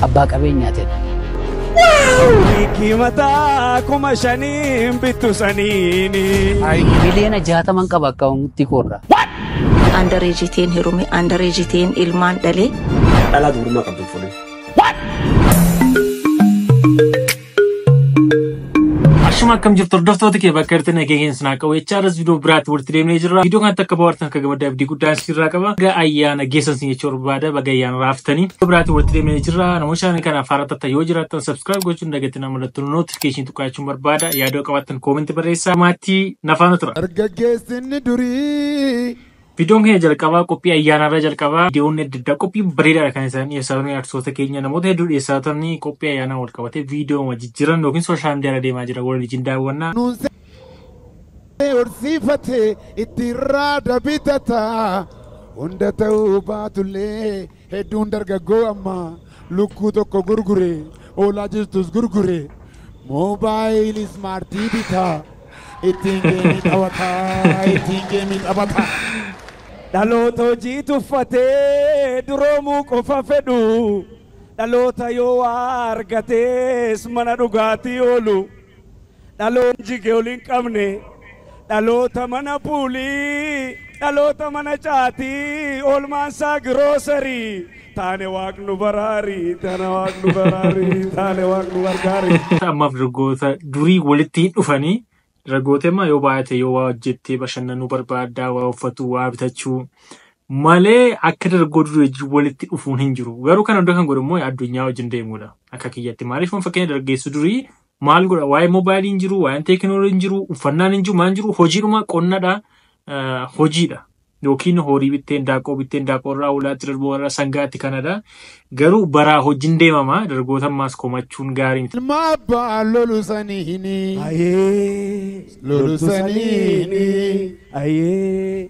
Abbaa qabeenyaa tedha. Hiikii mataa kuma shaniin bittu saniini. Miliyoona jaataman qaba akkaawuntii koorraa. Andareejiteen herume andareejiteen ilmaan dhalee. Dhalaa dubrummaa qabdu hin fuudhin. Ashuma akkam jirtu hordoftoota kee bakka irratti nageenya isin haa qabu. HRS viidiyoo biraatti walitti deemnee jirra. Viidiyoo kanatti akka bohaartan akka gammaddan abdii guddaa isinirraa qaba. Baga ayyaana geessan isin jechuu barbaada. Baga ayyaana raaftanii. Viidiyoo biraatti walitti deemnee jirra. Namoota shaanii kana afaan irratti yoo jiraattan subscribe gochuun dagatina mallattoo notification tuqqaachuun barbaada. Yaadoo qabaattan koomentii barreessaa. Maatii nafaan turaa. Dargaggeessinni durii Viidiyoon keenya jalqabaa qophii ayyaanaarraa jalqabaa viidiyoonni adda addaa qophii bareedaadha kan isaan dhiyeessaa turan artistoota keenya namoota hedduu dhiyeessaa turan qophii ayyaanaa wal qabatee viidiyooma jijjiiran yookiin sooshaal miidiyaarra deemaa jira waliin wajjin daawwannaa. Nuunsee horsiifate itti irraa dabitata hunda ta'uu baatullee. Hedduun dargaggoo ammaa lukkuu tokko gurgure, hoolaa jirtus gurgure, moobaayilii ismaartii bita, ittiin geemii taphata, ittiin geemii taphata. Dhaloota hojii tuffatee duroomuu qofa fedhu, dhaloota yoo waa argatees mana dhugaatii oolu. Dhaloon jige ol hin qabne dhaloota mana puulii dhaloota mana caatii oolmaan saa giroosarii taane waaq nu baraari taane waaq nu baraari taane waaq nu gargaari. Amma dargaggoota durii walitti hin dhufanii dargaggoota amma yoo baay'ate yoo waa hojjettee bashannanuu barbaaddaa waa uffatu waa bitachuu malee akka dargaggoo durii wajjin walitti dhufuun hin jiru. Garuu kana hunda kan godhu immoo addunyaa wajjin deemuudha akka kiyyatti. Maaliif kun fakkeenya dargaggeessu durii maal godha waa'ee moobaayilii hin jiru waa'een teekinoolii hin jiru uffannaan hin jiru maan jiru hojiidhuma qonnadha eh, hojiidha yookiin horii bitteen daaqqoo bitteen daaqqoo irraa hoolaatti darboo irraa sangaatti kanadha garuu baraa hojiin deemama dargoota ammaas komachuun gaarii miti. Ilma abbaa lolu saniini. Ayee. Lolu saniini. Ayee.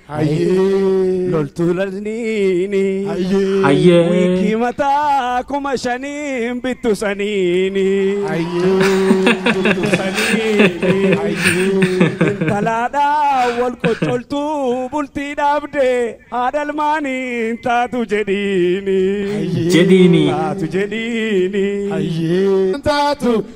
Hayyee. Loltuu lalniini. Hayyee. Hayyee. Wiikii mataa kuma shaniin bittu saniini. Hayyee. Bittu saniini. Hayyee. Intalaadhaa wal qoccoltuu bultii dhaabdee haadhalmaaniin taatu jedhiini. Jedhiini. Taatu jedhiini. Hayyee. Taatu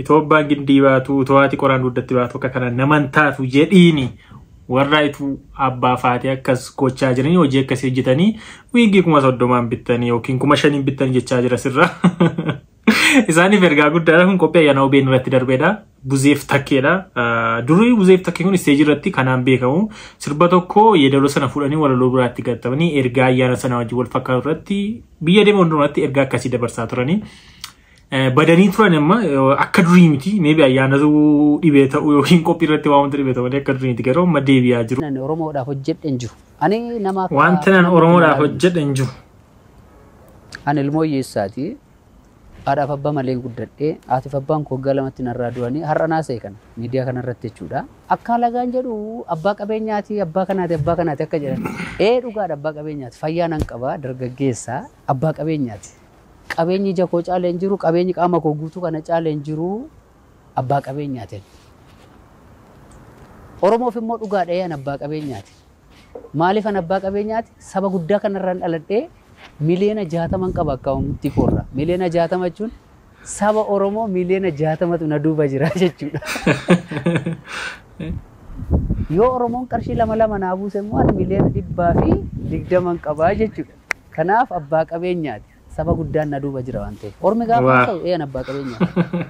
Itoobbaan gindii baatu utoo haati qoraan duuddatti baatu akka kana naman taatu jedhiini warraa ituu abbaa faatee akkas gochaa jiranii hojii akkasii hojjetanii wiiggii kuma soddomaan bittanii yookiin kuma shaniin bittanii jechaa jira sirra. Isaaniif ergaa guddaadha kun qophii ayyaana OBN irratti darbeedha. Buzeef takkeedha. Durii buzeef takkee kun isteejii irratti kanaan beekamu sirba tokko yeedaloo sana fuudhanii walaloo biraatti gatamanii ergaa ayyaana sana wajjin wal fakkaatu irratti biyya deeman hundumaatti ergaa akkasii dabarsaa turanii. badanii turan amma akka durii miti meebi ayyaanatu dhibee ta'u yookiin qophii irratti waan wanta dhibee ta'u malee akka durii miti garuu amma deebi'aa jiru. Ani Oromoodhaaf hojjedhe hin jiru. Ani nama akka Wanta nan nama Oromoodhaaf maraale miti. hojjedhe hin jiru. Ani ilmoo hiyyeessaati. Haadhaaf abbaa malee guddadhe. Haatiif abbaan koo waggaa lamatti narraa du'anii har'a naasa'e kana miidiyaa kanarratti jechuudha. Akka alagaan jedhu abbaa qabeenyaati, abbaa kanaati, abbaa kanaati akka jedhan. Ee dhugaadha abbaa qabeenyaati. Fayyaa nan qaba, dargaggeessa, abbaa qabeenyaati. Qabeenyi ija koo caale hin jiru, qabeenyi qaama koo guutuu kana caale hin jiru, abbaa qabeenyaatiin. Oromoof immoo dhugaadha ee an abbaa qabeenyaati. Maaliif an abbaa qabeenyaati? Saba guddaa kanarraan dhaladhee miliyoona jaataman qaba akkaawuntii koorra. Miliyoona jaatama jechuun saba Oromoo miliyoona jaatamatu na duuba jira jechuudha. Yoo Oromoon qarshii lama lama naa buuse immoo ani miliyoona dhibbaa fi digdaman qabaa jechuudha. Kanaaf abbaa qabeenyaati. Saba guddaan na duuba jira waan ta'eef. Ormi gaafa Waa. haasa'u ee an abbaa qabeenyaati.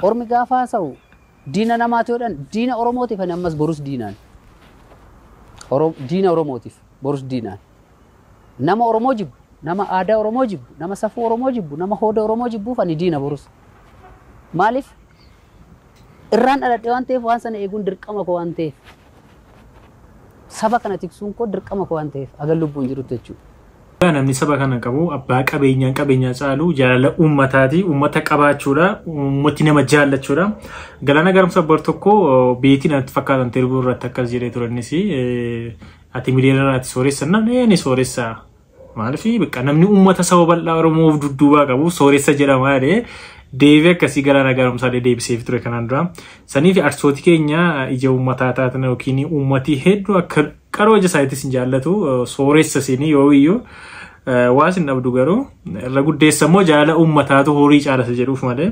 Ormi gaafa haasa'u diina namaati yoo jedhan diina Oromootiif ani ammas borus diinaan. Oro- Diina Oromootiif borus diinaan. Nama Oromoo jibbu, nama aadaa Oromoo jibbu, nama safuu Oromoo jibbu, nama hooda Oromoo jibbuuf ani diina borus. Maaliif? Irraan dhaladhe waan ta'eef waan sana eeguun dirqama koo waan ta'eef. Saba kana tiksuun koo dirqama koo waan ta'eef hagan lubbuun jirutti jechuudha. Dhugaa namni saba kana qabu abbaa qabeenyaan qabeenyaa caalu jaalala uummataati. Uummata qabaachuudha. Uummati nama jaallachuudha. Galaana Gaaromsa bar tokko beetiin natti fakkaatan terbuu irratti akkas jedhee ture innis ati miliyoonara ati sooressa namni ni sooressa Maaliif bakka namni uummata saba bal'aa Oromoo of dudduubaa qabu sooressa jedhama jedhee deebii akkasii galaana gaaromsaa illee deebiseef ture kanaan dura. Saniif arsooti keenya ija uummataa taatan yookiin uummatii hedduu akka qaroo ija isaaniitti isin jaallatu sooressa isin yoo iyyuu waa isin dhabdu garuu irra guddeessa immoo jaalala uummataatu horii caalasa jedhuuf malee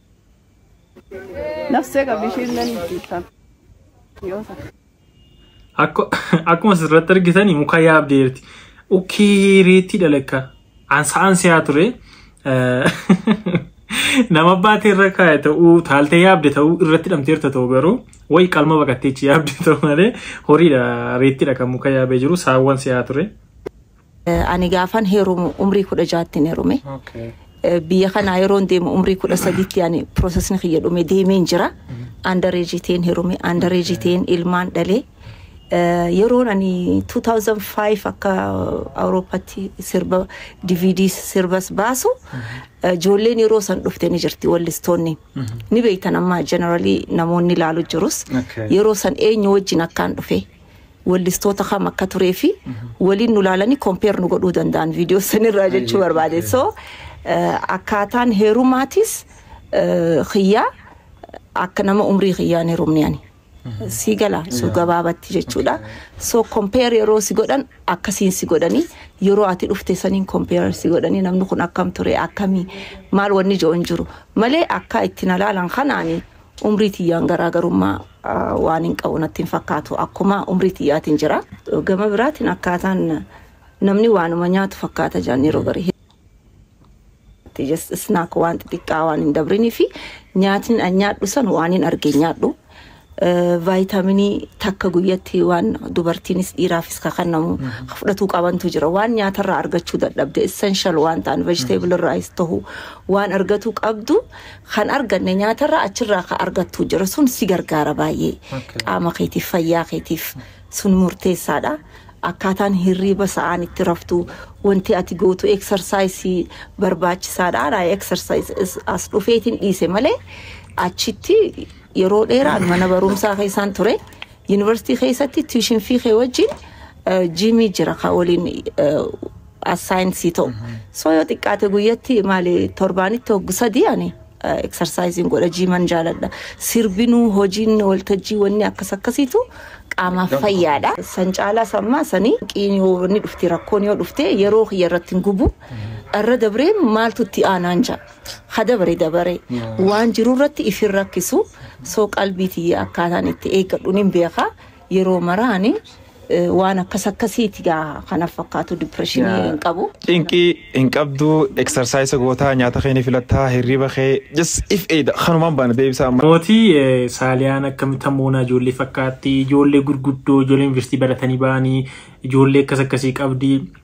Nafsee qabdi ishiin nan dhiiftan. Yoo ta'e. Akku- Akkuma asirratti argitanii muka yaabdee jirti. Ukkii reettii dhalakka. Ansa'aan si'aa ture. Eh, Nama baatee irra kaa'e ta'uu taaltee yaabde ta'uu irratti hidhamteerta ta'uu garuu wayi qalma baqatteechi yaabde ta'uu malee horiidha reettiidha kan muka yaabee jiru saawwan si'aa ture. Ani gaafan heerumu umrii kudha jaattin heerume. Biyya kanaa yeroon deemu umrii kudha sadiitti ani piroosesni kiyya dhume deemeen jira. Andareejii ta'een heerume, andareejii ta'een ilmaan dhalee. Yeroon ani 2005 akka Awurooppatti sirba DVD sirbas baasu ijoolleen yeroo san dhufte ni jirti wallistoonni. Ni beektan amma generally namoonni ilaalu jirus. Yeroo san eenyu wajjin akkaan dhufe. wellistoota kam akka turee fi waliin nu laalanii compare nu godhuu danda'an viidiyoo sanirraa jechuu barbaade. So eh, akkaataan heerumaatis eh, kiyyaa akka nama umrii kiyyaan heerumne ani. Si gala su gabaabatti jechuudha. So compare yeroo si godhan akkasiin si godhanii yeroo ati dhufte saniin compare si godhanii namni kun akkam ture akkamii maal wanni jo'on jiru malee akka itti na laalan kanaani Umrii tiyyaan garaagarummaa waan hin qabu natti hin fakkaatu. Akkuma umrii tiyyaatiin jira. Gama biraatiin akkaataan namni waanuma nyaatu fakkaata jaan yeroo garii. Just snack waan xixiqqaa waan hin dabrinii fi nyaatni an nyaadhu san waan hin arge hin nyaadhu. Vaayitaaminii takka guyyatti waan dubartiinis dhiiraafis ka kennamu ka fudhatuu qabantu jira. Waan nyaatarraa argachuu dadhabde essential waan ta'an vegetable irraayis ta'u waan argatuu qabdu Kan arganne nyaatarraa achirraa ka argattu jira sun si gargaara baay'ee Okay. qaama keetiif fayyaa keetiif sun murteessaadha akkaataan hirriiba sa'aan itti raftu wanti ati gootu eksarsaayisii barbaachisaadha ana eksarsaayis as dhufeetiin dhiise malee achitti yeroo dheeraan mana barumsaa keessaan ture yuunivarsiitii keessatti tuushinfii kee wajjin eh, jiimii jira ka waliin eh, as saayinsii ta'u. Soo yoo xiqqaate guyyatti maali torbaanitti hoggu sadii ani eksarsaayisiin godha jiiman jaaladha. Sirbinuu hojiin waltajjii wanni akkas akkasiitu qaamaaf fayyaadha. San caalaa sammaa sanii qiin yoo wanni dhufte rakkoon yoo dhufte yeroo kiyya irratti hin gubu. Irra dabree maaltu itti aanaan ja'a. Ha dabare dabare waan jiru irratti ifin rakkisu soo qalbii tiyya akkaataan itti eeggadhuun hin beekaa. Yeroo maraa ani eh, waan akkas akkasiiti gaa kanaaf fakkaatu dipireeshinii Yaa. hin qabu. Cinqii hin qabdu, eksarsaayisa gootaa, nyaata kee ni filattaa, hirriba kee, just if eeda, kanumaan baana deebisaa amma. Mootii eh, Saaliyaan akkamitti hammoonaa ijoollee fakkaatti, ijoollee gurguddoo, ijoollee yuunivarsiitii baratanii ba'anii, ijoollee akkas akkasii qabdi.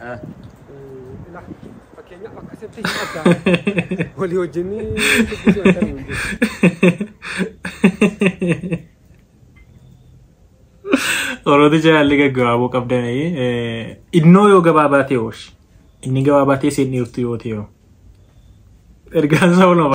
Ah. Ila fakkeenyaaf akkasitti hin addaa walii wajjin dubbisuu hin ta'u. Orooti jaalli gaggabaaboo qabdan innoo yoo gabaabaa ta'e ooshi. Inni gabaabaa ta'e seen dhiirtu yoo ta'e hoo. Ergaan isaa ulama.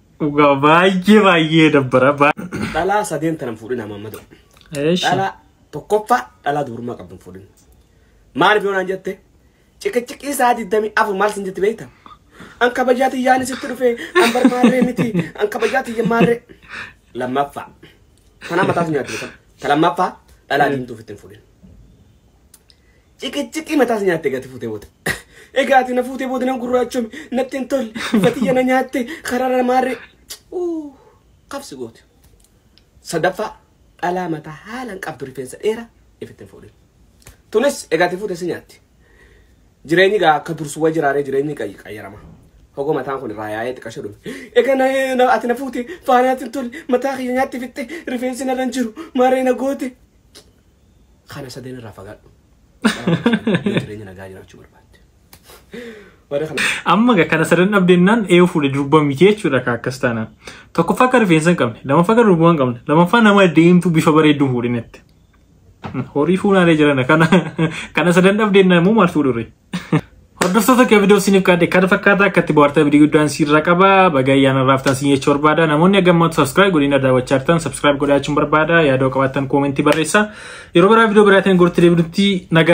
Dhugaa baay'ee baay'ee dabbara. Baa- Dhalaa sadeen tanan fuudhin amma amma ta'u. Eesh. Dhalaa tokkoffaa dhalaa dubrummaa qabdu hin fuudhin. Maaliif yoo naan jette? Ciqiciqii isaa digdamii afur maal sin jetti beekta? An kabajaa tiyyaan sitti dhufe an barbaadee miti an kabajaa tiyya maarree. Lammaffaa. Tanaa mataatu nyaatti beekama. Ta lammaffaa dhalaa diimtuu ofitti hin fuudhin. Ciqiciqii mataas nyaatte gati fuutee booda. Egaa ati na fuutee booda nan gurraachome natti hin tolle fatiyya na nyaatte karara maarree. Uu, Qabsi goote. Sadaffaa dhalaa mataa haalaan qabdu rifeensa dheeraa ifitti hin fuudhin. Tunis egaa ati fuutee si nyaatti. Jireenyi gaa akka dursu wa jiraaree jireenyi qayyi qayyarama. Hogoo mataan kun irraa yaa'ee xiqasho dhume. Egaa na, na, ati na fuute faanaatti hin tolle mataa kiyya nyaatti fixxe rifeensi narra hin jiru maarree na goote. kana sadeen irraa fagaadhu. Yoo jireenya nagaa jiraachuu barbaadde. Warra kana Amma egaa kana sadan dhabdeennaan eeyyuu fuudhe durba miti jechuudha akka akkas taanaan. Tokkoffaa akka rifeensa hin qabne, lammaffaa akka durbaa hin qabne, lammaffaa nama deemtu bifa bareedduu hin fuudhinetti. Horii fuunaalee jiran kana kana sadan dhabdeennaan immoo maal fuudhurre? Hordoftoota kee viidiyoo isiniif kaadhe kana fakkaata akka itti bohaartan abdii guddaan siirra qaba. Baga ayyaana raaftan siin jechuu barbaada. Namoonni aggammaatu subscribe godhina daawwachaa jirtan subscribe godhaachuun barbaada. Yaadoo qabaattan koomentii barreessa. Yeroo biraa viidiyoo biraatiin gorti deebinutti nagaa.